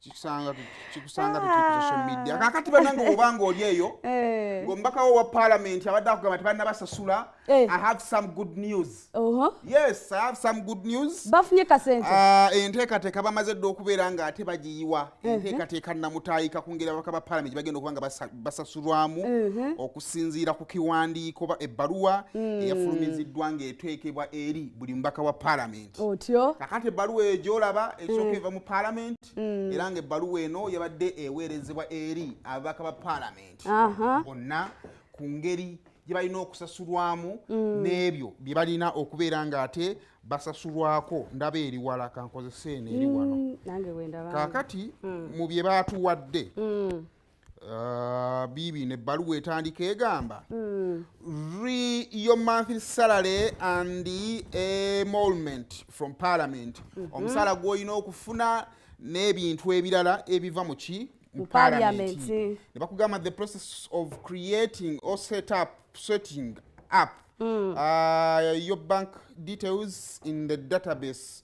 kikusanga kikusanga tukuza social ah. media kakati banange obanga oli eyo eh. ngombaka wo wa parliament abadde akugamba tebana basasula eh. i have some good news uh -huh. yes i have some good news bafunye kasente uh, enteekateeka bamaze dde okubeera nga ate bagiyiwa uh-huh. enteekateeka namutaayika ku ngeri ababaka ba parliament bagenda okuba nga basasulwamu uh-huh. okusinziira ku kiwandiiko ebbaluwa mm. eyafulumiziddwa ng'eteekebwa eri buli mubaka wa parliament otyo kakati ebbaluwa eyo gyolaba esooka mm. eva mu paalamenti mm. era nga ebbaluwa eno yabadde eweerezebwa eri ababaka ba paalamenti bonna ku ngeri gye balina okusasulwamu mm. n'ebyo bye balina okubeera ng'ate basasulwako ndaba eriwala kankozese eno eri wano kakati mu bye baatuwadde Uh, bibi ne baluwa etandika egamba mm. re your monthly salary and emolment from parliament mm -hmm. omusala gwolina okufuna n'ebintu ebirala ebiva mu ki mu parliament ne bakugamba the process of creating or set up setting up mm. uh, your bank details in the database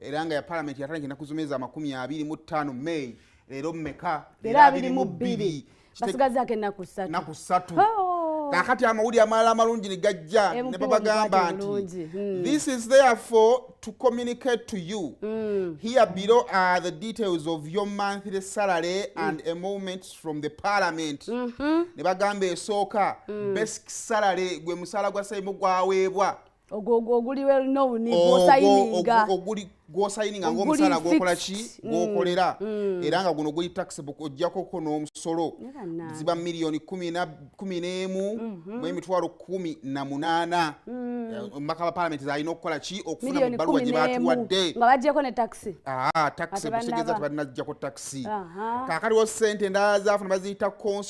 era nga ya palamenti yatandika enaku zomezi amakumi abiri mu ttaano may leero mumeka era abiri mu bbiri basigazako enaku satu satu oh. kakati amawulire amalala amalungi ne gajja ne babagamba nti hmm. this is therefore to communicate to you mm. here below are the details of your monthly salary mm. and emoluments from the parliament mm -hmm. ne bagamba esooka mm. basic salary gwe musaala gwa saimu gwaweebwa gwosayininga ngaomusaala gwokola ki mm, gwokolera mm. era nga guno guli taxable ojjakoko n'omusolo ziba miliyoni kumi n'emu mhm. mu emitwalo kumi na munaana mm. eh, omubaka ba palamenti zalina okukola ki okufuna mu bbaluwa gye batuwadde taxi butegeza tebalinajjako taxi kakaliwo sente endala zafuna baziyita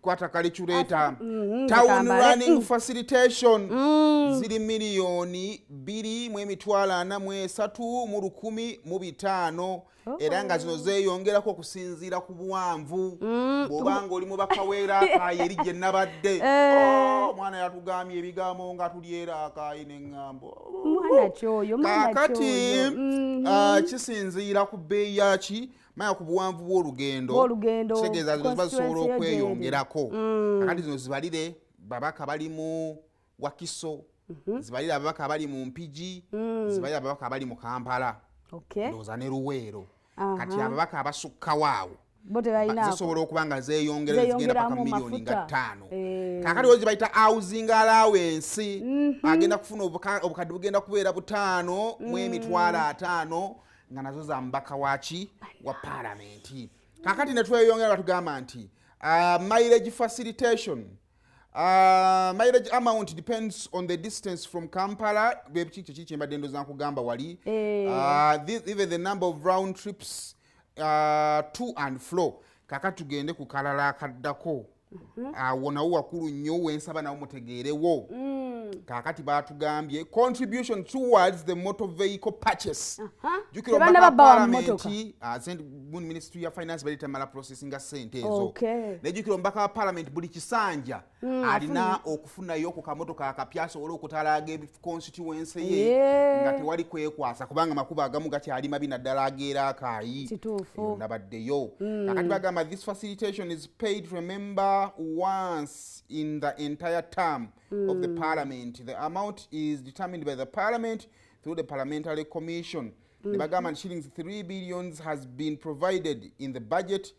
kwata kali kyuleeta mm-hmm, town running mm. facilitation mm. ziri miliyoni bbiri mu emitwalo ana mu esatu mu lukumi mu bitaano oh. era nga zino zeeyongerako okusinziira ku buwanvu mm. bw'oba nga oli mu bakaweera akaayi eri gye nabadde eh. oh, omwana yatugambye ebigambo nga tulyera akaayi neŋŋambo kaakati mm-hmm. ah, kisinziira ku bbeeyi yaki maya ku buwanvu bw'olugendo kitegeeza zino ziba zisobola okweyongerako mm. akati zino zibalire babaka bali mu wakiso mhm. zibalire ababaka abali mu mpigi mm. zibalire ababaka abali mu kampala ndowooza ne luweero kati ababaka abasukkawaawo zisobola okuba nga zeyongera zigenda paka miliyoni nga ttaano eh. kakati ozi bayita housing allowance mhm. agenda kufuna obukadde bugenda kubeera butaano mu mm. emitwalo ataano nga nazo za mubaka waki wa palamenti kakati netweyongera batugamba nti uh, mileage facilitation uh, mileage amount depends on the distance from kampala bwekikyekyi kyembadde ndoza nkugamba wali eh. uh, this, even the number of round trips uh, to and flow kakati tugende ku kalala akaddako Mhm. awo nawo wakulu nnyo wensaba nawo mutegeerewo mm. kakati batugambye contribution towards the motor vehicle purchase jukiraabaalamenti ah, ministry ya finance bali tamala process nga sente ezo naye jukira omubaka wa parliament buli kisanja mm, alina okufunayo ku kamotoka akapya asobole okutalaaga constituency ye yeah. nga tewali kwekwasa kubanga makuba agamu gakyali mabi naddala ageera akaayi nabaddeyo mm. akati bagamba this facilitation is paid remember once in the entire term mm. of the mm. parliament the amount is determined by the parliament through the parliamentary commission mm. ne bagamba shillings 3 billions has been provided in the budget mm.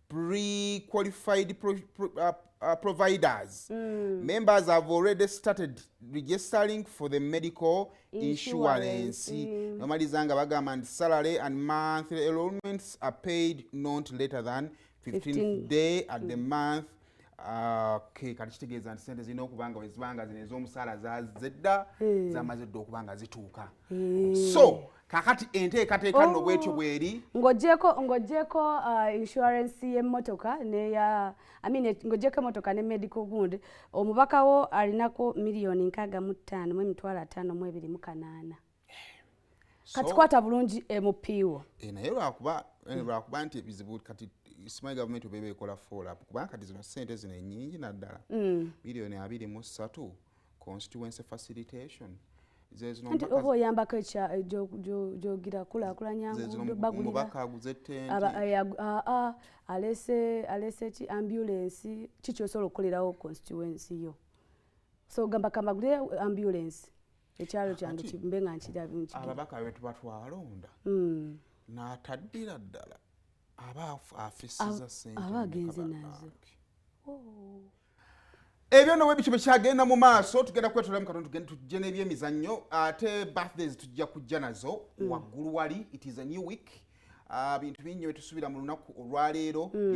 pre-qualified pro, pro, uh, uh, providers. Mm. Members have already started registering for the medical insurance. insurance. Mm. Normally, Zanga Bagaman salary and monthly enrollments are paid not later than 15th 15. day at mm. the month. Uh, okay, kati kitegeeza nti sente zirina okuba nga wezibanga zino ez'omusaala zedda mm. zamaze dda okuba nga zituuka eh. so kakati enteekateeka nno oh. bwetyo bweri ngojeko ngojeko uh, insurance yemotoka neya I mean, ngojeko emotoka ne medical gund omubaka wo alinako miliyoni nkaga mu ttaano mu emitwalo ataano mu ebiri mu kanaana kati kwata bulungi emupiiwo eh, naye lwakuba eh, hmm. lwakuba nti ebizibu kati simanyi gavumenti obeeba ekola foolap kubanga kati zino sente zino enyingi naddala hmm. miliyoni abiri mu ssatu constituency facilitation nti oba oyambako ekya eh, gyogira kulakulanya ngudo baguliraabaa alese alese ki ambulensi kiki osobola okukolerawo constituency yo so gamba kamagulire ambulensi ekyalo kyange kimbe nga nkirababaka betuba twalonda hmm. nataddira ddala aba afisiza sente aba agenze nazo oh. ebyo nowe bityo bekyagenda mu maaso tugenda kwetolamu katonda tugende tujje n'ebyemizannyo ate birthdays tujja kujja nazo mm. waggulu wali it is a new week ah, bintu bingi byetusubira mu lunaku olwaleero mm.